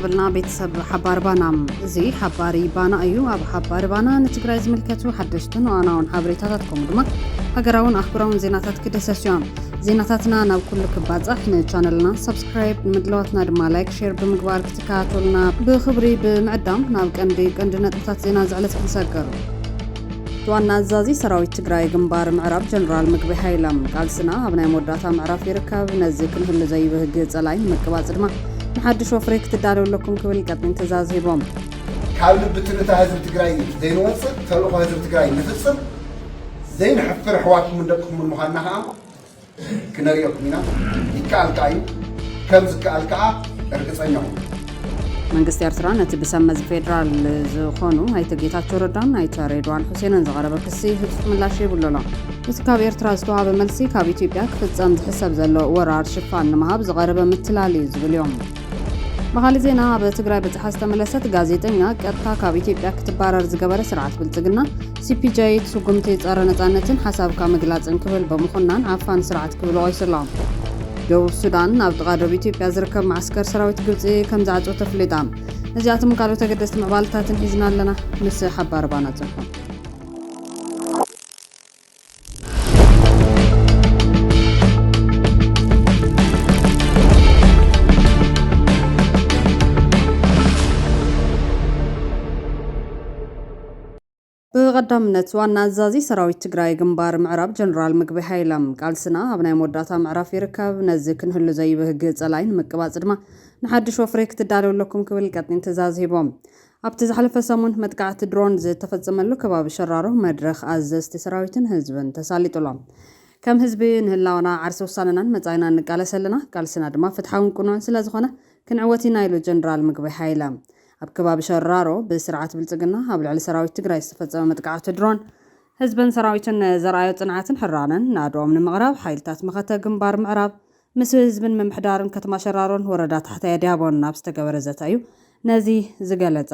ሃበልና ቤተሰብ ሓባር ባና እዚ ሓባሪ ባና እዩ ኣብ ሓባሪ ባና ንትግራይ ዝምልከቱ ሓደሽትን ዋናውን ሓበሬታታት ከምኡ ድማ ሃገራውን ኣህጉራውን ዜናታት ክደሰሱ እዮም ዜናታትና ናብ ኩሉ ክባፃሕ ንቻነልና ሰብስክራይብ ንምድለዋትና ድማ ላይክ ሼር ብምግባር ክትከታተሉና ብክብሪ ብምዕዳም ናብ ቀንዲ ቀንዲ ነጥብታት ዜና ዝዕለት ክንሰገሩ ዋና ኣዛዚ ሰራዊት ትግራይ ግንባር ምዕራብ ጀነራል ምግቢ ሃይለም ቃልስና ኣብ ናይ መወዳእታ ምዕራፍ ይርከብ፣ ነዚ ክንህሉ ዘይብህግ ጸላኢ ንምቅባጽ ድማ ንሓድሽ ወፍሪ ክትዳለዉ ኣለኩም ክብል ይቀጥኝ ትእዛዝ ሂቦም። ካብ ልቢ ትርታ ህዝቢ ትግራይ ዘይንወፅእ ተልእኾ ህዝቢ ትግራይ ንፍፅም ዘይንሕፍር ኣሕዋትኩምን ደቅኹምን ምዃንና ከዓ ክነርእየኩም ኢና ይከኣል ከኣ እዩ ከም ዝከኣል ከኣ እርግጸኛ ኩኑ። መንግስቲ ኤርትራ ነቲ ብሰብ መዚ ፌደራል ዝኾኑ ኣይተ ጌታቸው ረዳን ኣይተ ሬድዋን ሑሴንን ዝቐረበ ክሲ ህጹጽ ምላሽ ይብሉ ኣሎ። እቲ ካብ ኤርትራ ዝተዋሃበ መልሲ ካብ ኢትዮጵያ ክፍጸም ዝሕሰብ ዘሎ ወራር ሽፋን ንምሃብ ዝቐረበ ምትላል እዩ ዝብል እዮም። ብኻሊእ ዜና ኣብ ትግራይ በጽሓ ዝተመለሰት ጋዜጠኛ ቀጥታ ካብ ኢትዮጵያ ክትባረር ዝገበረ ስርዓት ብልጽግና CPJ ስጉምቲ ጸረ ነጻነትን ሓሳብካ ምግላጽን ክብል ብምኹናን ዓፋኒ ስርዓት ክብሉ ቆይስሎም። ደቡብ ሱዳን ኣብ ጥቓ ዶብ ኢትዮጵያ ዝርከብ መዓስከር ሰራዊት ግብጺ ከምዝዓጸወት ኣፍሊጣ። እዚኣቶምን ካልኦት ኣገደስቲ ምዕባለታትን ሒዝና ኣለና። ምስ ሓባሪ ባና ጽሑፉ። ብቐዳምነት ዋና ኣዛዚ ሰራዊት ትግራይ ግንባር ምዕራብ ጀነራል ምግቢ ሃይለም ቃልስና ኣብ ናይ መወዳእታ ምዕራፍ ይርከብ፣ ነዚ ክንህሉ ዘይብህግ ጸላኢ ንምቅባጽ ድማ ንሓድሽ ወፍሪ ክትዳለው ኣለኩም ክብል ቀጢን ትእዛዝ ሂቦም። ኣብቲ ዝሓለፈ ሰሙን መጥቃዕቲ ድሮን ዝተፈጸመሉ ከባቢ ሸራሮ መድረኽ ኣዘዝቲ ሰራዊትን ህዝብን ተሳሊጡ'ሎ። ከም ህዝቢ ንህላወና፣ ዓርሰ ውሳነናን መጻኢናን ንቃለስ ኣለና፣ ቃልስና ድማ ፍትሓውን ቅኑዕን ስለዝኾነ ክንዕወት ኢና ኢሉ ጀነራል ምግበይ ሃይለ። ኣብ ከባቢ ሸራሮ ብስርዓት ብልጽግና ኣብ ልዕሊ ሰራዊት ትግራይ ዝተፈጸመ መጥቃዕቲ ድሮን፣ ህዝብን ሰራዊትን ንዘርኣዮ ጽንዓትን ሕራነን ናዶኦም ንምቕራብ ሓይልታት መኸተ ግንባር ምዕራብ ምስ ህዝብን ምምሕዳርን ከተማ ሸራሮን ወረዳ ታሕታይ ኣድያቦን ኣብ ዝተገበረ ዘተ እዩ ነዚ ዝገለፃ።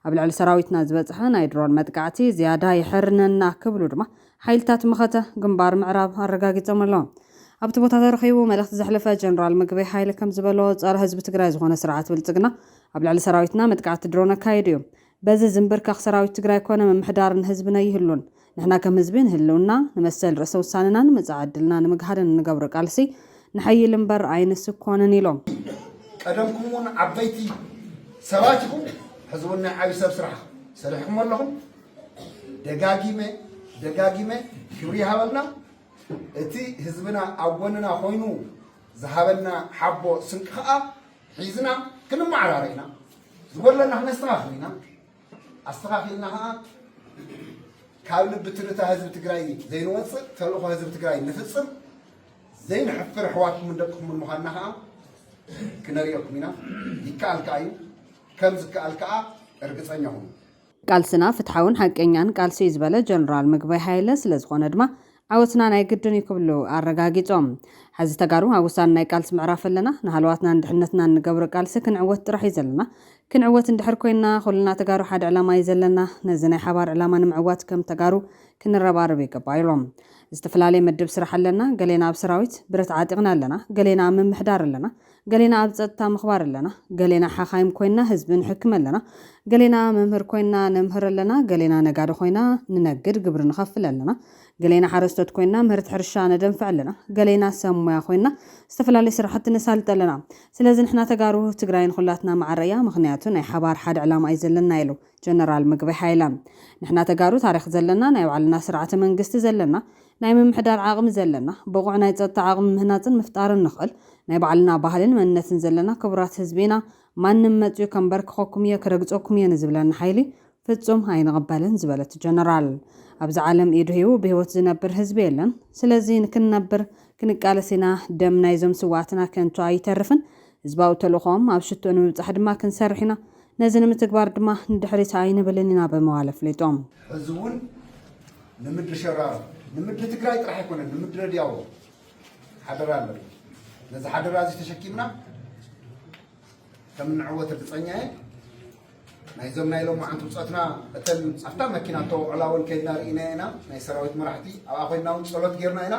ኣብ ልዕሊ ሰራዊትና ዝበፅሐ ናይ ድሮን መጥቃዕቲ ዝያዳ የሐርነና ክብሉ ድማ ሓይልታት መኸተ ግንባር ምዕራብ ኣረጋጊፆም ኣለው። ኣብቲ ቦታ ተረኺቡ መልእኽቲ ዘሕለፈ ጀነራል ምግበይ ሃይለ ከምዝበሎ ፀረ ህዝቢ ትግራይ ዝኾነ ስርዓት ብልፅግና ኣብ ልዕሊ ሰራዊትና መጥቃዕቲ ድሮን ኣካይዱ እዩ። በዚ ዝምብርከኽ ሰራዊት ትግራይ ኮነ ምምሕዳር ንህዝብን ኣይህሉን። ንሕና ከም ህዝቢ ንህልውና፣ ንመሰል ርእሰ ውሳነናን መጻኢ ዕድልና ንምግሃድን እንገብሮ ቃልሲ ንሐይል እምበር ኣይንስኮንን ኢሎም። ቀደምኩም እውን ዓበይቲ ሰባት ኢኹም ሕዚ እውን ናይ ዓብዪ ሰብ ስራሕ ሰሪሕኩም ኣለኹም። ደጋጊመ ደጋጊመ ክብሪ ይሃበልና እቲ ህዝብና ኣብ ጎንና ኮይኑ ዝሃበና ሓቦ ስንቂ ከዓ ሒዝና ክንመዓራረ ኢና፣ ዝጎድለና ክነስተኻኽል ኢና፣ ኣስተኻኺልና ኸዓ ካብ ልቢ ትርታ ህዝቢ ትግራይ ዘይንወፅእ ተልእኾ ህዝቢ ትግራይ ንፍፅም ዘይንሕፍር ኣሕዋትኩምን ደቅኹምን ምዃንና ኸዓ ክነርእየኩም ኢና። ይከኣል ከዓ እዩ፣ ከም ዝከኣል ከዓ እርግፀኛ ኹኑ። ቃልስና ፍትሓውን ሓቀኛን ቃልሲ እዩ ዝበለ ጀነራል ምግበይ ሃይለ፣ ስለዝኾነ ድማ ዓወትና ናይ ግድን እዩ ክብሉ ኣረጋጊፆም። ሐዚ ተጋሩ ኣብ ወሳኒ ናይ ቃልሲ ምዕራፍ ኣለና። ንሃለዋትናን ድሕነትናን እንገብሮ ቃልሲ ክንዕወት ጥራሕ እዩ ዘለና። ክንዕወት እንድሕር ኮይንና ኹልና ተጋሩ ሓደ ዕላማ እዩ ዘለና። ነዚ ናይ ሓባር ዕላማ ንምዕዋት ከም ተጋሩ ክንረባረብ ይግባእ ኢሎም። ዝተፈላለየ መድብ ስራሕ ኣለና። ገሌና ኣብ ሰራዊት፣ ብረት ዓጢቕና፣ ኣለና። ገሌና ኣብ ምምሕዳር ኣለና። ገሌና ኣብ ጸጥታ ምኽባር ኣለና፣ ገሌና ሓኻይም ኮይንና ህዝቢ ንሕክም ኣለና፣ ገሌና መምህር ኮይንና ነምህር ኣለና፣ ገሌና ነጋዶ ኮይና ንነግድ ግብሪ ንኸፍል ኣለና፣ ገሌና ሓረስቶት ኮይንና ምህርቲ ሕርሻ ነደንፍዕ ኣለና፣ ገሌና ሰብ ሞያ ኮይንና ዝተፈላለዩ ስራሕቲ ነሳልጥ ኣለና። ስለዚ ንሕና ተጋሩ ትግራይ ንኹላትና ማዕረ እያ፣ ምኽንያቱ ናይ ሓባር ሓደ ዕላማ እዩ ዘለና ኢሉ ጀነራል ምግበይ ሃይለ። ንሕና ተጋሩ ታሪኽ ዘለና፣ ናይ ባዕልና ስርዓተ መንግስቲ ዘለና፣ ናይ ምምሕዳር ዓቕሚ ዘለና፣ ብቑዕ ናይ ጸጥታ ዓቕሚ ምህናጽን ምፍጣርን ንኽእል፣ ናይ ባዕልና ባህልን መንነትን ዘለና ክቡራት ህዝቢ ኢና፣ ማንም መጺኡ ከንበርክኸኩም እየ፣ ክረግጸኩም እየ ንዝብለና ሓይሊ ፍጹም ኣይንቕበልን ዝበለ እቲ ጀነራል፣ ኣብዚ ዓለም ኢዱ ሂቡ ብህይወት ዝነብር ህዝቢ የለን፣ ስለዚ ንክንነብር ክንቃለስ ኢና፣ ደም ናይዞም ስውኣትና ከንቱ ኣይተርፍን፣ ህዝባዊ ተልእኾኦም ኣብ ሽቶ ንምብፃሕ ድማ ክንሰርሕ ኢና፣ ነዚ ንምትግባር ድማ ንድሕሪት ኣይንብልን ኢና ብምባል ኣፍሊጦም። ሕዚ እውን ንምድሪ ሸራሮ፣ ንምድሪ ትግራይ ጥራሕ ኣይኮነን ንምድረ ድያዎ ሓደራ ኣለና። ነዚ ሓደራ እዚ ተሸኪምና ከምንዕወት ርግፀኛ እየ። ናይዞም ናይ ሎማዓንቲ ውፀትና እተን ኣብታ መኪና እተወዕላ እውን ከይድና ርኢናዮ ኢና። ናይ ሰራዊት መራሕቲ ኣብኣ ኮይንና እውን ፀሎት ገይርና ኢና።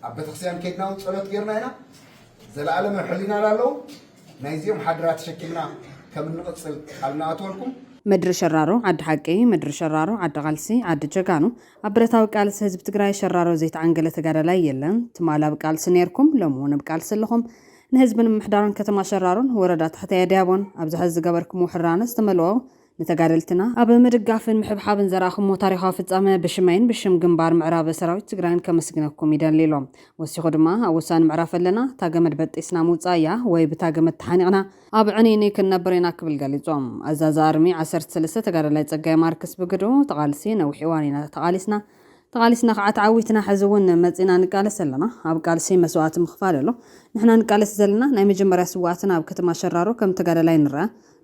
ኣብ ቤተክርስትያን ከይድና እውን ፀሎት ገይርና ኢና። ዘለኣለም ኣብ ሕሊናና ኣለዉ። ናይዚኦም ሓደራ ተሸኪምና ከም እንቕጽል ቃል ንኣትወልኩም። ምድሪ ሸራሮ ዓዲ ሓቂ ምድሪ ሸራሮ ዓዲ ቃልሲ ዓዲ ጀጋኑ ኣብ ብረታዊ ቃልሲ ህዝቢ ትግራይ ሸራሮ ዘይተዓንገለ ተጋዳላይ የለን ትማል ኣብ ቃልሲ ነይርኩም ሎሚ እውን ኣብ ቃልሲ ኣለኹም ንህዝብን ምምሕዳርን ከተማ ሸራሮን ወረዳ ታሕታይ ኣድያቦን ኣብዚ ሐዚ ዝገበርክምዎ ሕራነ ዝተመልኦ ንተጋደልትና ኣብ ምድጋፍን ምሕብሓብን ዘርኣኹሞ ታሪኻዊ ፍጻመ ብሽመይን ብሽም ግንባር ምዕራብ ሰራዊት ትግራይን ከመስግነኩም ይደሊ ኢሎም። ወሲኹ ድማ ኣብ ወሳኒ ምዕራፍ ኣለና፣ እታ ገመድ በጢስና ምውጻእ እያ ወይ ብታ ገመድ ተሓኒቕና ኣብ ዕንይንይ ክንነብር ኢና ክብል ገሊጾም። ኣዛዚ ኣርሚ ዓሰርተ ሰለስተ ተጋዳላይ ጸጋይ ማርክስ ብግድኡ፣ እቲ ቃልሲ ነዊሕ እዋን ኢና ተቓሊስና፣ ተቓሊስና ከኣ ተዓዊትና ሕዚ እውን መጺእና ንቃለስ ኣለና፣ ኣብ ቃልሲ መስዋእቲ ምኽፋል ኣሎ፣ ንሕና ንቃለስ ዘለና ናይ መጀመርያ ስውኣትና ኣብ ከተማ ሸራሮ ከም ተጋዳላይ ንርኣ፣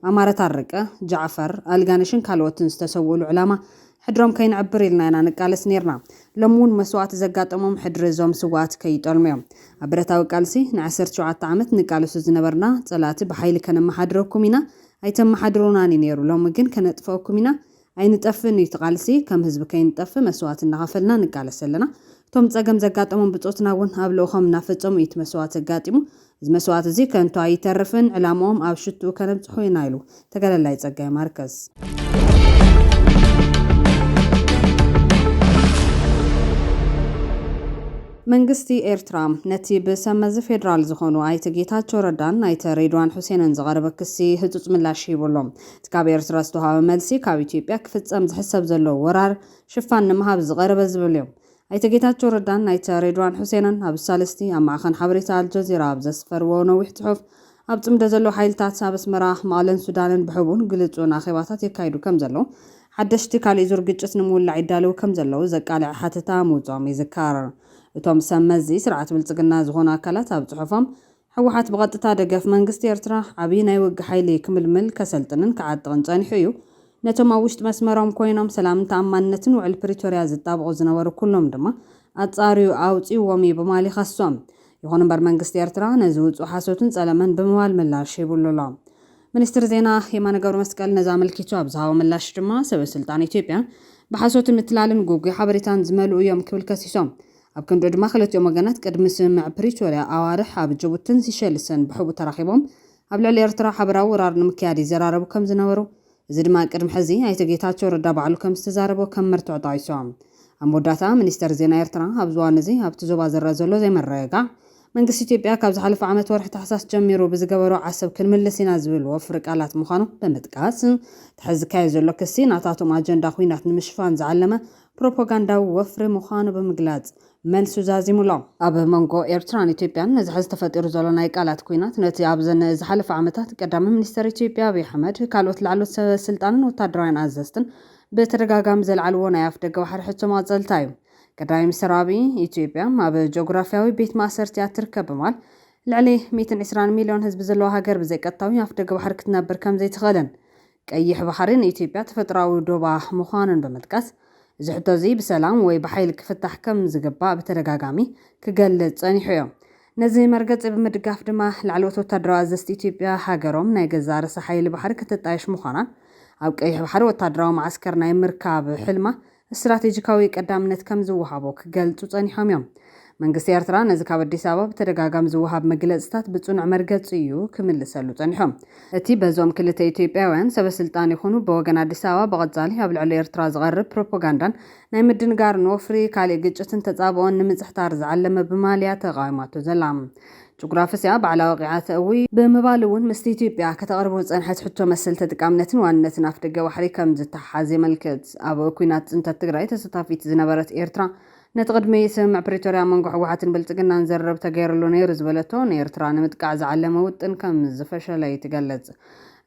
ኣማረ ታረቀ፣ ጃዕፈር ኣልጋነሽን ካልኦትን ዝተሰውእሉ ዕላማ ሕድሮም ከይንዕብር ኢልና ኢና ንቃለስ ኔርና። ሎሚ እውን መስዋእቲ ዘጋጠሞም ሕድሪ እዞም ስውኣት ከይጠልሙ እዮም። ኣብ ብረታዊ ቃልሲ ንዓሰርተ ሸውዓተ ዓመት ንቃለሱ ዝነበርና ፀላእቲ ብሓይሊ ከነመሓድረኩም ኢና ኣይተመሓድሩናን እዩ ኔሩ ሎሚ ግን ከነጥፈኣኩም ኢና ኣይንጠፍእን እዩ እቲ ቃልሲ ከም ህዝቢ ከይንጠፍእ መስዋእቲ እናኸፈልና ንቃለስ ኣለና እቶም ፀገም ዘጋጠሞም ብፆትና እውን ኣብ ልእኾም እናፈፀሙ እዩ እቲ መስዋእቲ ኣጋጢሙ እዚ መስዋእቲ እዙይ ከንቱ ኣይተርፍን ዕላምኦም ኣብ ሽትኡ ከነብፅሖ ኢና ኢሉ ተጋዳላይ ፀጋይ ማርከስ። መንግስቲ ኤርትራ ነቲ ብሰብ መዚ ፌዴራል ዝኾኑ ኣይተ ጌታቸው ረዳን ኣይተ ሬድዋን ሑሴንን ዝቐረበ ክሲ ህጹጽ ምላሽ ሂቡ ኣሎ። እቲ ካብ ኤርትራ ዝተውሃበ መልሲ ካብ ኢትዮጵያ ክፍጸም ዝሕሰብ ዘሎ ወራር ሽፋን ንምሃብ ዝቐረበ ዝብል እዩ። ኣይተ ጌታቸው ረዳን ኣይተ ሬድዋን ሑሴንን ኣብ ሳልስቲ ኣብ ማዕኸን ሓበሬታ ኣልጀዚራ ኣብ ዘስፈርዎ ነዊሕ ጽሑፍ ኣብ ጽምዶ ዘለዉ ሓይልታት ኣብ ኣስመራ፣ መቐለን ሱዳንን ብሕቡእን ግልጹን ኣኼባታት የካይዱ ከም ዘለዉ ሓደሽቲ ካሊእ ዙር ግጭት ንምውላዕ ይዳለዉ ከም ዘለዉ ዘቃልዐ ሓተታ ምውጽኦም ይዝከር። እቶም ሰብ መዚ ስርዓት ብልጽግና ዝኾኑ ኣካላት ኣብ ጽሑፎም ህወሓት ብቐጥታ ደገፍ መንግስቲ ኤርትራ ዓብይ ናይ ውግእ ሓይሊ ክምልምል፣ ከሰልጥንን ክዓጥቕን ጸኒሑ እዩ። ነቶም ኣብ ውሽጢ መስመሮም ኮይኖም ሰላምን ተኣማንነትን ውዕል ፕሪቶርያ ዝጣበቑ ዝነበሩ ኩሎም ድማ ኣጻርዩ ኣውጺኡዎም እዩ ብማል ይኸሶም። ይኹን እምበር መንግስቲ ኤርትራ ነዚ ውጹእ ሓሶትን ጸለመን ብምባል ምላሽ ሂቡሉ ኣሎ። ሚኒስትር ዜና የማነ ገብረመስቀል ነዚ ኣመልኪቱ ኣብ ዝሃቦ ምላሽ ድማ ሰበስልጣን ኢትዮጵያ ብሓሶትን ምትላልን ጉጉይ ሓበሬታን ዝመልኡ እዮም ክብል ከሲሶም። ኣብ ክንድኡ ድማ ክልቲኦም ወገናት ቅድሚ ስምምዕ ፕሪቶርያ ኣዋርሕ ኣብ ጅቡትን ሲሸልስን ብሕቡእ ተራኺቦም ኣብ ልዕሊ ኤርትራ ሓበራዊ ወራር ንምክያድ ይዘራረቡ ከም ዝነበሩ እዚ ድማ ቅድሚ ሕዚ ኣይተ ጌታቸው ረዳ ባዕሉ ከም ዝተዛረቦ ከም መርትዖ ጠቒሶም። ኣብ መወዳእታ ሚኒስተር ዜና ኤርትራ ኣብዚ እዋን እዚ ኣብቲ ዞባ ዝረኣ ዘሎ ዘይምርግጋዕ መንግስቲ ኢትዮጵያ ካብ ዝሓለፈ ዓመት ወርሒ ታሕሳስ ጀሚሩ ብዝገበሮ ዓሰብ ክንምልስ ኢና ዝብል ወፍሪ ቃላት ምዃኑ ብምጥቃስ እቲ ሕዚ ዝካየድ ዘሎ ክሲ ናታቶም ኣጀንዳ ኵናት ንምሽፋን ዝዓለመ ፕሮፖጋንዳዊ ወፍሪ ምዃኑ ብምግላጽ መልሱ ዛዚሙ'ሎ። ኣብ መንጎ ኤርትራን ኢትዮጵያን ነዚ ሕዚ ተፈጢሩ ዘሎ ናይ ቃላት ኲናት፣ ነቲ ኣብዘን ዝሓለፋ ዓመታት ቀዳማይ ሚኒስተር ኢትዮጵያ ኣብይ ኣሕመድ፣ ካልኦት ላዕለዎት ሰበ ስልጣንን ወተሃደራውያን ኣዘዝትን ብተደጋጋሚ ዘልዓልዎ ናይ ኣፍደገ ባሕሪ ሕቶ ማእጸልታ'ዩ። ቀዳማይ ሚኒስተር ኣብይ፣ ኢትዮጵያ ኣብ ጆግራፍያዊ ቤት ማእሰርቲ'ያ እትርከብ ብማል፣ ልዕሊ ሚእትን ዕስራን ሚልዮን ህዝቢ ዘለዋ ሃገር ብዘይቀጥታዊ ኣፍደገ ባሕሪ ክትነብር ከምዘይትኽእልን ቀይሕ ባሕሪ ንኢትዮጵያ ተፈጥሮኣዊ ዶባ ምዃኑን ብምጥቃስ፣ እዚ ሕቶ'ዚ ብሰላም ወይ ብሓይሊ ክፍታሕ ከም ዝግባእ ብተደጋጋሚ ክገልጽ ጸኒሑ'ዮ። ነዚ መርገጺ ብምድጋፍ ድማ፣ ላዕለዎት ወታደራዊ ኣዘዝቲ ኢትዮጵያ፣ ሃገሮም ናይ ገዛእ ርእሳ ሓይሊ ባሕሪ ክትጣየሽ ምዃናን ኣብ ቀይሕ ባሕሪ ወታደራዊ መዓስከር ናይ ምርካብ ሕልማ ስትራቴጂካዊ ቀዳምነት ከም ዝወሃቦ ክገልጹ ጸኒሖም እዮም። መንግስቲ ኤርትራ ነዚ ካብ ኣዲስ ኣበባ ብተደጋጋሚ ዝወሃብ መግለጺታት ብጽኑዕ መርገጺ እዩ ክምልሰሉ ጸኒሑ። እቲ በዞም ክልተ ኢትዮጵያውያን ሰበስልጣን ይኹኑ ብወገን ኣዲስ ኣበባ ብቐጻሊ ኣብ ልዕሊ ኤርትራ ዝቐርብ ፕሮፖጋንዳን ናይ ምድንጋርን ወፍሪ ካሊእ ግጭትን ተጻብኦን ንምጽሕታር ዝዓለመ ብማልያ ተቓዊማቶ ዘላ ጅጉራፍስ እያ ባዕላ ወቒዓ ተእዊ ብምባል እውን ምስቲ ኢትዮጵያ ከተቕርቦ ዝፀንሐት ሕቶ መሰል ተጥቃምነትን ዋንነትን ኣፍደገ ባሕሪ ከም ዝተሓሓዝ የመልክት። ኣብ ኲናት ፅንተት ትግራይ ተሰታፊት ዝነበረት ኤርትራ ነቲ ቅድሚ ስምምዕ ፕሪቶርያ ኣብ መንጎ ህወሓትን ብልፅግናን ዝርርብ ተገይርሉ ነይሩ ዝበለቶ ንኤርትራ ንምጥቃዕ ዝዓለመ ውጥን ከም ዝፈሸለ'ዩ ትገልፅ።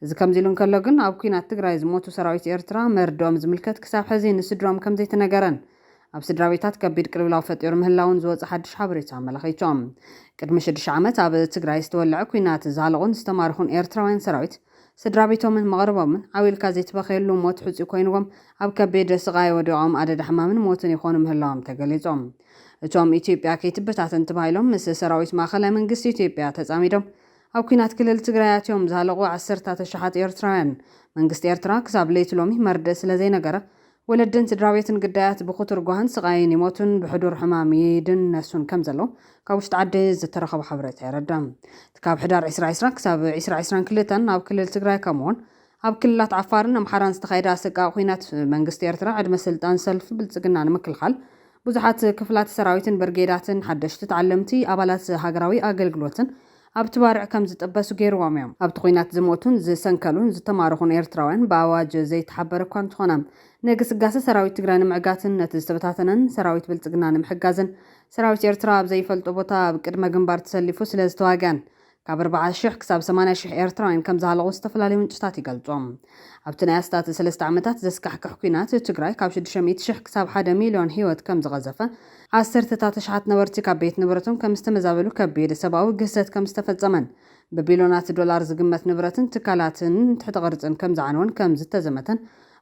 እዚ ከምዚ ኢሉ እንከሎ ግን ኣብ ኲናት ትግራይ ዝሞቱ ሰራዊት ኤርትራ መርድኦም ዝምልከት ክሳብ ሕዚ ንስድርኦም ከም ዘይተነገረን ኣብ ስድራቤታት ከቢድ ቅልውላው ፈጢሩ ምህላዉን ዝወጸ ሓድሽ ሓበሬታ ኣመላኺቱ። ቅድሚ ሽዱሽተ ዓመት ኣብ ትግራይ ዝተወለዐ ኲናት ዝሃለቑን ዝተማረኹን ኤርትራውያን ሰራዊት ስድራቤቶምን መቕርቦምን ዓው ኢልካ ዘይትበኽየሉ ሞት ሕጹይ ኮይንዎም ኣብ ከቢድ ስቓይ ወዲቖም ኣደዳ ሕማምን ሞትን ይኾኑ ምህላዎም ተገሊጹ። እቶም ኢትዮጵያ ከይትበታተን ተባሂሎም ምስ ሰራዊት ማእኸላይ መንግስቲ ኢትዮጵያ ተጻሚዶም ኣብ ኲናት ክልል ትግራይ ኣትዮም ዝሃለቑ ዓሰርታት ኣሽሓት ኤርትራውያን መንግስቲ ኤርትራ ክሳብ ለይቲ ሎሚ መርድእ ስለዘይነገረ ወለድን ስድራቤትን ግዳያት ብኽቱር ጓህን ስቓይን ይሞቱን ብሕዱር ሕማም ይድነሱን ከም ዘለዉ ካብ ውሽጢ ዓዲ ዝተረኸበ ሓበሬታ የረዳ። እቲ ካብ ሕዳር ዕስራ ዕስራ ክሳብ ዕስራ ዕስራን ክልተን ኣብ ክልል ትግራይ ከምኡ'ውን ኣብ ክልላት ዓፋርን ኣምሓራን ዝተኻየደ ኣሰቃቒ ኲናት መንግስቲ ኤርትራ ዕድመ ስልጣን ሰልፊ ብልጽግና ንምክልኻል ብዙሓት ክፍላተ ሰራዊትን ብርጌዳትን ሓደሽቲ ተዓለምቲ ኣባላት ሃገራዊ ኣገልግሎትን ኣብቲ ባርዕ ከም ዝጥበሱ ገይርዎም እዮም። ኣብቲ ኲናት ዝሞቱን ዝሰንከሉን ዝተማረኹን ኤርትራውያን ብኣዋጅ ዘይተሓበረ እኳ እንተኾነ፣ ንግስጋሰ ሰራዊት ትግራይ ንምዕጋትን ነቲ ዝተበታተነን ሰራዊት ብልጽግና ንምሕጋዝን ሰራዊት ኤርትራ ኣብ ዘይፈልጦ ቦታ ኣብ ቅድመ ግንባር ተሰሊፉ ስለዝተዋግኣን ካብ ኣርብዓ ሽሕ ክሳብ ሰማንያ ሽሕ ኤርትራውያን ከምዝሃለቑ ዝተፈላለዩ ምንጭታት ይገልጹ። ኣብቲ ናይ ኣስታት ሰለስተ ዓመታት ዘስካሕክሕ ኲናት፣ ትግራይ ካብ ሽዱሽተ ሚእቲ ሽሕ ክሳብ ሓደ ሚልዮን ህይወት ከም ዝቐዘፈ፣ ዓሰርተታት ኣሽሓት ነበርቲ ካብ ቤት ንብረቶም ከም ዝተመዛበሉ፣ ከቢድ ሰብኣዊ ግህሰት ከም ዝተፈጸመን ብቢልዮናት ዶላር ዝግመት ንብረትን ትካላትን ትሕተ ቅርጽን ከም ዝዓነወን ከም ዝተዘመተን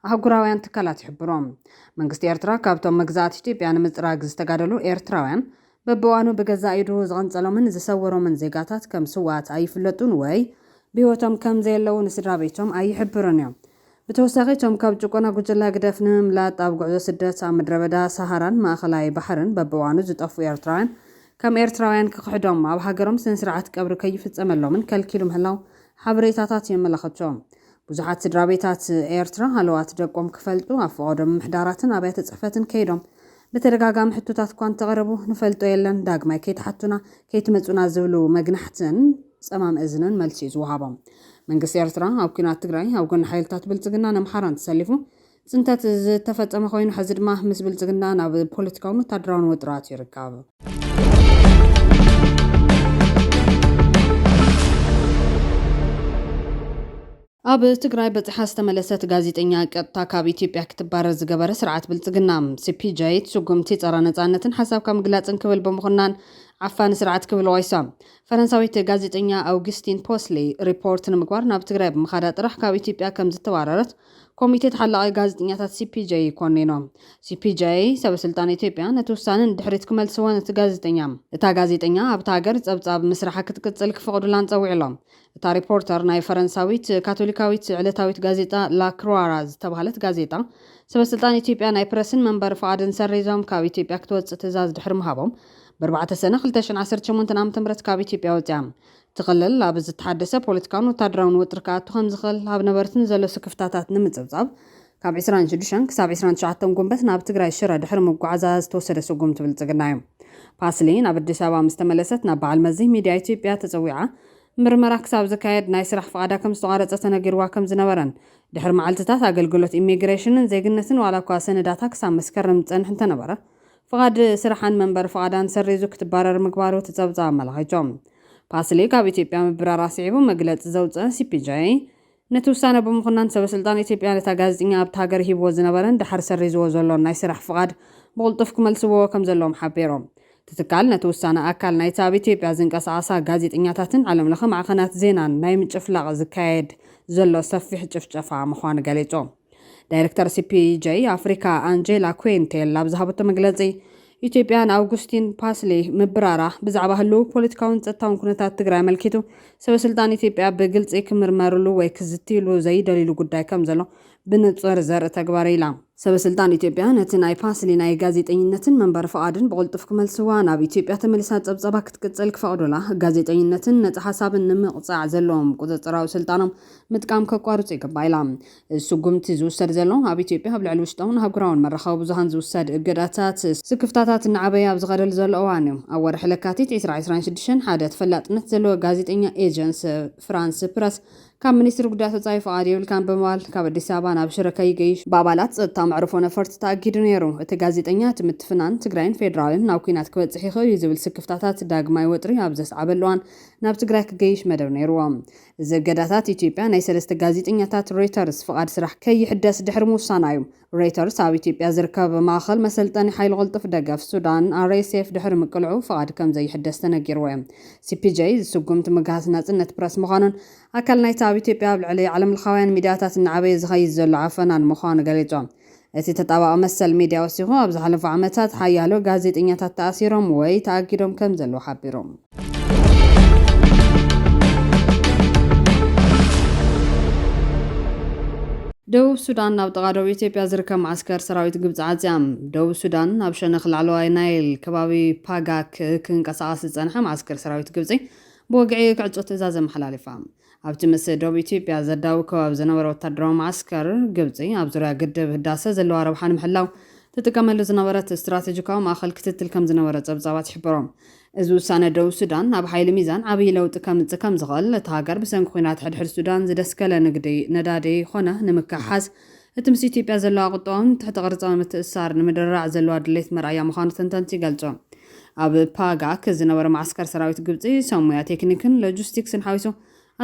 ኣህጉራውያን ትካላት ይሕብሩ። መንግስቲ ኤርትራ ካብቶም መግዛእቲ ኢትዮጵያ ንምጽራግ ዝተጋደሉ ኤርትራውያን በብእዋኑ ብገዛእ ኢዱ ዝቐንጸሎምን ዝሰወሮምን ዜጋታት ከም ስዉኣት ኣይፍለጡን ወይ ብህይወቶም ከም ዘየለዉ ንስድራቤቶም ኣይሕብሩን እዮም። ብተወሳኺ እቶም ካብ ጭቆና ጉጅለ ህግደፍ ንምምላጥ ኣብ ጉዕዞ ስደት ኣብ ምድረበዳ ሳሃራን ማእከላይ ባሕርን በብእዋኑ ዝጠፍኡ ኤርትራውያን ከም ኤርትራውያን ክኽሕዶም ኣብ ሃገሮም ስነስርዓት ቀብሪ ከይፍጸመሎምን ከልኪሉ ምህላዉ ሓበሬታታት የመላኽቱ። ብዙሓት ስድራቤታት ኤርትራ ሃለዋት ደቆም ክፈልጡ ኣብ ፈቐዶ ምምሕዳራትን ኣብያተ ጽሕፈትን ከይዶም ብተደጋጋሚ ሕቶታት'ኳ እንተቕረቡ ንፈልጦ የለን ዳግማይ ከይትሓቱና ከይትመጹና ዝብሉ መግናሕትን ጸማም እዝንን መልሲ'ዩ ዝወሃቦም። መንግስቲ ኤርትራ ኣብ ኲናት ትግራይ ኣብ ጎኒ ሓይልታት ብልጽግናን ኣምሓራን ተሰሊፉ ፅንተት ዝተፈፀመ ኮይኑ ሐዚ ድማ ምስ ብልፅግና ናብ ፖለቲካውን ወታደራውን ወጥራት ይርከብ። ኣብ ትግራይ በፂሓ ዝተመለሰት ጋዜጠኛ ቀጥታ ካብ ኢትዮጵያ ክትባረር ዝገበረ ስርዓት ብልፅግና ሲፒጀይት ስጉምቲ ፀረ ነፃነትን ሓሳብካ ምግላፅን ክብል ብምኹናን ዓፋኒ ስርዓት ክብል ዋይሳ ፈረንሳዊት ጋዜጠኛ ኣውግስቲን ፖስሊ ሪፖርት ንምግባር ናብ ትግራይ ብምኻዳ ጥራሕ ካብ ኢትዮጵያ ከም ዝተባረረት ኮሚቴ ተሓላቒ ጋዜጠኛታት CPJ ኮኒኑ። CPJ ሰበስልጣን ኢትዮጵያ ነቲ ውሳነ ንድሕሪት ክመልስዎ ነቲ ጋዜጠኛ እታ ጋዜጠኛ ኣብታ ሃገር ጸብጻብ ምስራሓ ክትቅጽል ክፈቕዱላን ጸዊዑ'ሎ። እታ ሪፖርተር ናይ ፈረንሳዊት ካቶሊካዊት ዕለታዊት ጋዜጣ ላ ክሩዋራ ዝተባህለት ጋዜጣ ሰበስልጣን ኢትዮጵያ ናይ ፕረስን መንበሪ ፍቓድን ሰሪዞም ካብ ኢትዮጵያ ክትወጽእ ትእዛዝ ድሕሪ ምሃቦም ብኣርባዕተ ሰነ ክልተ ሽሕን ዓሰርተ ሸሞንተን ዓመተ ምህረት ካብ ኢትዮጵያ ወጺኣ እቲ ክልል ኣብ ዝተሓደሰ ፖለቲካውን ወታደራውን ወጥሪ ክኣቱ ከምዝኽእል ኣብ ነበርቲ ንዘሎ ስክፍታታት ንምፅብፃብ ካብ ዕስራን ሽዱሽተን ክሳብ ዕስራን ትሽዓተን ጉንበት ናብ ትግራይ ሽረ ድሕሪ ምጉዓዛ ዝተወሰደ ስጉምቲ ብልፅግና እዩ። ፓስሊ ናብ ኣዲስ ኣበባ ምስ ተመለሰት ናብ በዓል መዚ ሚድያ ኢትዮጵያ ተፀዊዓ ምርመራ ክሳብ ዝካየድ ናይ ስራሕ ፍቓዳ ከምዝተቋረፀ ተነጊርዋ ከምዝነበረን ድሕሪ መዓልቲታት ኣገልግሎት ኢሚግሬሽንን ዜግነትን ዋላ እኳ ሰነዳታ ክሳብ መስከረም ዝፀንሕ እንተነበረ ፍቓድ ስራሓን መንበሪ ፍቓዳን ሰሪዙ ክትባረር ምግባሩ እቲ ፀብፃብ ኣመላኺቱ። ፓስሊ ካብ ኢትዮጵያ ምብራራ ስዒቡ መግለፂ ዘውፅአ ሲፒጀይ፣ ነቲ ውሳነ ብምኹናን ሰበስልጣን ኢትዮጵያ ነታ ጋዜጠኛ ኣብታ ሃገር ሂብዎ ዝነበረን ደሓር ሰሪዝዎ ዘሎን ናይ ስራሕ ፍቓድ ብቕልጡፍ ክመልስዎ ከምዘለዎም ሓቢሩ። እቲ ትካል ነቲ ውሳነ ኣካል ናይቲ ኣብ ኢትዮጵያ ዝንቀሳቐሳ ጋዜጠኛታትን ዓለምለኸ ማዕኸናት ዜናን ናይ ምጭፍላቕ ዝካየድ ዘሎ ሰፊሕ ጭፍጨፋ ምዃኑ ገሊፁ። ዳይረክተር ሲፒጄይ ኣፍሪካ ኣንጀላ ኩንቴል ኣብ ዝሃበቶ መግለፂ ኢትዮጵያ ንኣውጉስቲን ፓስሊ ምብራራ ብዛዕባ ህልው ፖለቲካውን ጸጥታውን ኩነታት ትግራይ ኣመልኪቱ ሰበስልጣን ኢትዮጵያ ብግልፂ ክምርመርሉ ወይ ክዝትይሉ ዘይደልይሉ ጉዳይ ከም ዘሎ ብንጹር ዘርኢ ተግባር ኢላ። ሰበስልጣን ኢትዮጵያ ነቲ ናይ ፓስሊ ናይ ጋዜጠኝነትን መንበሪ ፍቓድን ብቕልጡፍ ክመልስዋ፣ ናብ ኢትዮጵያ ተመሊሳ ጸብጻባ ክትቅጽል ክፈቕዱላ፣ ጋዜጠኝነትን ነጻ ሓሳብን ንምቕጻዕ ዘለዎም ቁጽጽራዊ ስልጣኖም ምጥቃም ከቋርጹ ይግባእ ኢላ። እዚ ስጉምቲ ዝውሰድ ዘሎ፣ ኣብ ኢትዮጵያ ኣብ ልዕሊ ውሽጣውን ኣህጉራውን መራኸቢ ብዙሃን ዝውሰድ እገዳታት፣ ስክፍታታት እናዓበየ ኣብ ዝኸደሉ ዘሎ እዋን'ዩ። ኣብ ወርሒ ለካቲት ዕስራ ዕስራን ሽዱሽተን፣ ሓደ ተፈላጥነት ዘለዎ ጋዜጠኛ ኤጀንስ ፍራንስ ፕረስ፣ ካብ ሚኒስትሪ ጉዳያት ወጻኢ ፍቓድ የብልካን ብምባል፣ ካብ ኣዲስ ኣበባ ናብ ሽረ ከይገይሽ፣ ብኣባላት ጸጥታ መዕርፎ ነፈርቲ ተኣጊዱ ነይሩ። እቲ ጋዜጠኛ፣ እቲ ምትፍናን ትግራይን ፌደራልን ናብ ኲናት ክበጽሕ ይኽእል'ዩ ዝብል ስክፍታታት ዳግማይ ወጥሪ ኣብ ዘስዓበሉ እዋን፣ ናብ ትግራይ ክገይሽ መደብ ነይሩዎ። እዚ እገዳታት ኢትዮጵያ ናይ ሰለስተ ጋዜጠኛታት ሮይተርስ ፍቓድ ስራሕ ከይሕደስ ድሕሪ ምውሳና እዩ። ሮይተርስ ኣብ ኢትዮጵያ ዝርከብ ማእኸል መሰልጠኒ ሓይሊ ቅልጡፍ ደገፍ ሱዳን፣ RSF፣ ድሕሪ ምቅልዑ ፍቓድ ከምዘይሕደስ ተነጊርዎ እዩ። ሲፒጀይ እዚ ስጉምቲ ምግሃስ ናፅነት ፕረስ ምዃኑን ኣካል ናይቲ ኣብ ኢትዮጵያ ኣብ ልዕሊ ዓለምለኻውያን ሚድያታት እናዓበየ ዝኸይድ ዘሎ ዓፈናን ምዃኑ ገሊፁ። እቲ ተጣባቒ መሰል ሚድያ ወሲኹ፣ ኣብ ዝሓለፉ ዓመታት ሓያሎ ጋዜጠኛታት ተኣሲሮም ወይ ተኣጊዶም ከም ዘለዉ ሓቢሩ። ደቡብ ሱዳን ናብ ጥቓ ዶብ ኢትዮጵያ ዝርከብ መዓስከር ሰራዊት ግብፂ ዓፅያ። ደቡብ ሱዳን ናብ ሸነኽ ላዕለዋይ ናይል ከባቢ ፓጋክ ክንቀሳቐስ ዝፀንሐ መዓስከር ሰራዊት ግብፂ ብወግዒ ክዕፆ ትእዛዝ ኣመሓላሊፋ። ኣብቲ ምስ ዶብ ኢትዮጵያ ዘዳውብ ከባቢ ዝነበረ ወታደራዊ መዓስከር፣ ግብጺ ኣብ ዙርያ ግድብ ህዳሰ ዘለዋ ረብሓ ንምሕላው ትጥቀመሉ ዝነበረት ስትራተጂካዊ ማእኸል ክትትል ከምዝነበረ ፀብፃባት ይሕብሩ። እዚ ውሳነ ደቡብ ሱዳን ኣብ ሓይሊ ሚዛን ዓብዪ ለውጢ ከምፅእ ከምዝኽእል፣ እታ ሃገር ብሰንኪ ኲናት ሕድሕድ ሱዳን ዝደስከለ ንግዲ ነዳዲ ኾነ ንምክሕሓስ እቲ ምስ ኢትዮጵያ ዘለዋ ቁጠባውን ትሕተ ቅርጻዊ ምትእስሳር ንምድርራዕ ዘለዋ ድሌት መርኣያ ምዃኑ ተንተንቲ ይገልጹ። ኣብ ፓጋክ ዝነበረ መዓስከር ሰራዊት ግብጺ፣ ሰብ ሞያ ቴክኒክን ሎጂስቲክስን ሓዊሱ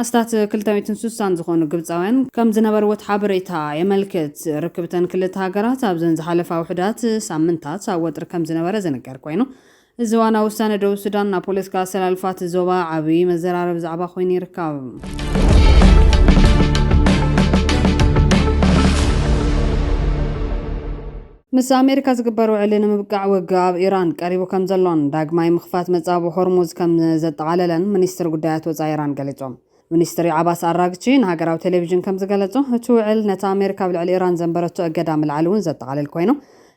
ኣስታት ክልተ ሚእትን ስሳን ዝኾኑ ግብጻውያን ከምዝነበርዎ እቲ ሓበሬታ የመልክት። ርክብ'ተን ክልተ ሃገራት ኣብዘን ዝሓለፋ ውሑዳት ሳምንታት ኣብ ወጥሪ ከምዝነበረ ዝንገር ኮይኑ፣ እዚ እዋናዊ ውሳነ ደቡብ ሱዳን ናብ ፖለቲካ ኣሰላልፋ እቲ ዞባ ዓብዪ መዘራረቢ ዛዕባ ኮይኑ ይርከብ። ምስ ኣሜሪካ ዝግበር ውዕሊ ንምብቃዕ ውግእ ኣብ ኢራን ቀሪቡ ከም ዘሎን ዳግማይ ምኽፋት መጻብብ ሆርሙዝ ከም ዘጠቓለለን ሚኒስትሪ ጉዳያት ወጻኢ ኢራን ገሊጾም። ሚኒስትሪ ዓባስ ኣራግቺ ንሃገራዊ ቴሌቪዥን ከም ዝገለጾ፣ እቲ ውዕል ነቲ ኣሜሪካ ኣብ ልዕሊ ኢራን ዘንበረቶ እገዳ ምልዓል እውን ዘጠቓልል ኰይኑ፣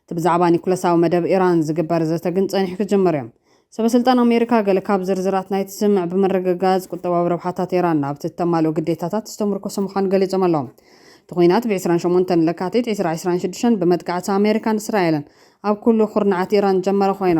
እቲ ብዛዕባ ኒኩለሳዊ መደብ ኢራን ዝግበር ዘተ ግን ጸኒሑ ክጅምር እዮም። ሰበስልጣን ኣሜሪካ ገለ ካብ ዝርዝራት ናይቲ ስምምዕ ብምርግጋጽ፣ ቍጠባዊ ረብሓታት ኢራን ናብቲ እተማልኦ ግዴታታት ዝተምርኰሰ ምዃኑ ገሊጾም ኣለዉ። እቲ ኲናት ብ ዕስራን ሸሞንተን ለካቲት ዕስራ ዕስራን ሽዱሽተን ብመጥቃዕቲ ኣሜሪካን እስራኤልን ኣብ ኵሉ ኵርናዓት ኢራን ዝጀመረ ኰይኑ፣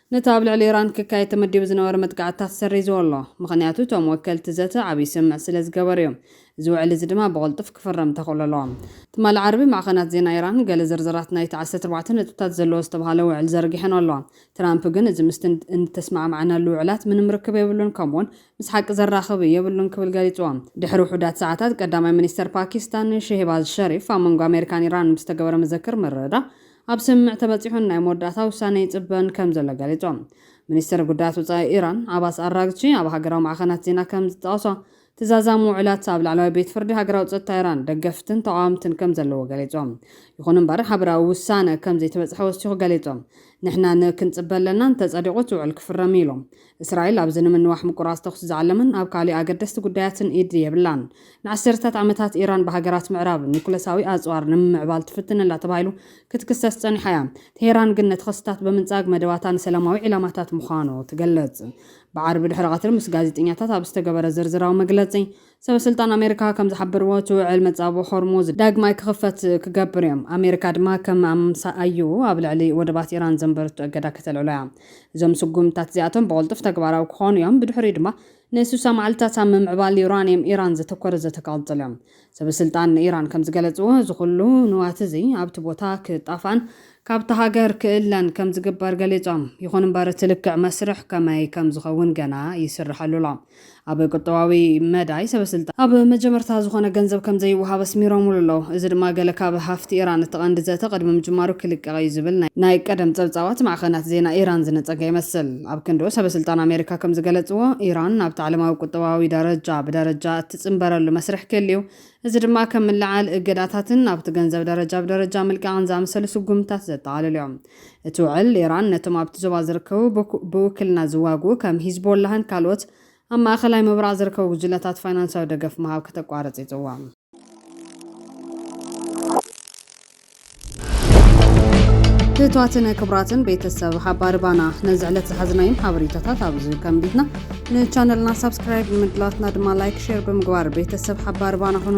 ነቲ ኣብ ልዕሊ ኢራን ክካየድ ተመዲቡ ዝነበረ መጥቃዕትታት ሰሪዝዎ ኣሎ፣ ምኽንያቱ እቶም ወከልቲ ዘተ ዓብዪ ስምምዕ ስለ ዝገበሩ እዮም፣ እዚ ውዕል እዚ ድማ ብቕልጡፍ ክፍረም ተኽእሎ ኣለዎ። ትማሊ ዓርቢ ማዕኸናት ዜና ኢራን ገለ ዝርዝራት ናይቲ ዓሰርተ ኣርባዕተ ነጥብታት ዘለዎ ዝተብሃለ ውዕል ዘርጊሐን ኣለዋ፣ ትራምፕ ግን እዚ ምስቲ እተስማዕማዕናሉ ውዕላት ምንም ርክብ የብሉን ከምኡ'ውን ምስ ሓቂ ዘራኽብ የብሉን ክብል ገሊጽዎ። ድሕሪ ውሑዳት ሰዓታት ቀዳማይ ሚኒስተር ፓኪስታን ሼህባዝ ሸሪፍ ኣብ መንጎ ኣመሪካን ኢራንን ብዝተገበረ መዘክር ምርድዳእ ኣብ ስምምዕ ተበጺሑን ናይ መወዳእታ ውሳነ ይጽበን ከምዘሎ ገሊጾም። ሚኒስተር ጉዳያት ወጻኢ ኢራን ዓባስ ኣራግቺ ኣብ ሃገራዊ ማዕኸናት ዜና ከምዝጠቐሶ፣ እቲ ዛዛሚ ውዕላት ኣብ ላዕለዋይ ቤት ፍርዲ ሃገራዊ ጸጥታ ኢራን ደገፍትን ተቓወምትን ከምዘለዎ ገሊጹ። ይኹን'ምበር ሓበራዊ ውሳነ ከምዘይተበጽሐ ወሲኹ ገሊጹ። ንሕና ን ክንጽበ ኣለና፣ እንተጸዲቑ እቲ ውዕል ክፍረም'ዩ ኢሉ። እስራኤል ኣብዚ ንምንዋሕ ምቁራጽ ተዅሲ ዝዓለመን ኣብ ካልእ ኣገደስቲ ጕዳያትን ኢድ የብላን። ንዓሰርተታት ዓመታት ኢራን ብሃገራት ምዕራብ ኒዩክለሳዊ ኣጽዋር ንምምዕባል ትፍትን ኣላ ተባሂሉ ክትክሰስ ጸኒሓ እያ። ቴህራን ግን ነቲ ክስታት ብምንጻግ መደባታ ንሰላማዊ ዒላማታት ምዃኑ ትገልጽ። ብዓርቢ ድሕሪ ቀትሪ ምስ ጋዜጠኛታት ኣብ ዝተገበረ ዝርዝራዊ መግለጺ፣ ሰበስልጣን ኣሜሪካ ከም ዝሓበርዎ እቲ ውዕል መጻብቦ ሆርሙዝ ዳግማይ ክኽፈት ክገብር እዮም፣ ኣሜሪካ ድማ ከም ኣምሳኣይኡ ኣብ ልዕሊ ወደባት ኢራን ዘንበርቶ እገዳ ከተልዕሎ እያ። እዞም ስጉምትታት እዚኣቶም ብቕልጡፍ ተግባራዊ ክኾኑ እዮም፣ ብድሕሪኡ ድማ ንስሳ መዓልታት ኣብ ምምዕባል ዩራንየም ኢራን ዘተኮረ ዘተ ክቕጽል እዮም። ሰበስልጣን ኢራን ከም ዝገለጽዎ እዚ ኹሉ ንዋት እዚ ኣብቲ ቦታ ክጣፋእን ካብታ ሃገር ክእለን ከም ዝግበር ገሊጾም። ይኹን እምበር እቲ ልክዕ መስርሕ ከመይ ከም ዝኸውን ገና ይስርሐሉ ኣሎ። ኣብ ቁጠባዊ መዳይ ሰበስልጣን ኣብ መጀመርታ ዝኾነ ገንዘብ ከምዘይወሃብ ኣስሚሮምሉ ኣለዉ። እዚ ድማ ገለ ካብ ሃፍቲ ኢራን እቲ ቀንዲ ዘተ ቅድሚ ምጅማሩ ክልቀቕ እዩ ዝብል ናይ ቀደም ጸብጻባት ማዕኸናት ዜና ኢራን ዝነጸገ ይመስል። ኣብ ክንድኡ ሰበስልጣን ኣሜሪካ ከምዝገለጽዎ ኢራን ናብቲ ዓለማዊ ቁጠባዊ ደረጃ ብደረጃ እትጽንበረሉ መስርሕ ክህሉ እዩ። እዚ ድማ ከም ምልዕዓል እገዳታትን ናብቲ ገንዘብ ደረጃ ብደረጃ ምልቃቕን ዝኣመሰሉ ስጉምትታት ዘጠቓልል እዩ። እቲ ውዕል፣ ኢራን ነቶም ኣብቲ ዞባ ዝርከቡ ብውክልና ዝዋግኡ ከም ሂዝቦላህን ካልኦት ኣብ ማእከላይ ምብራቕ ዝርከቡ ጕጅለታት ፋይናንሳዊ ደገፍ ምሃብ ከተቋርጽ ይጽውዕ። ክብርታትን ክብራትን ቤተሰብ ሓባሪ ባና ነዚ ዕለት ዝሓዝናዮም ሓበሬታታት ኣብዚ ከምቢትና ንቻነልና ሳብስክራይብ ንምድላትና ድማ ላይክ ሼር ብምግባር ቤተሰብ ሓባሪ ባና ኹኑ።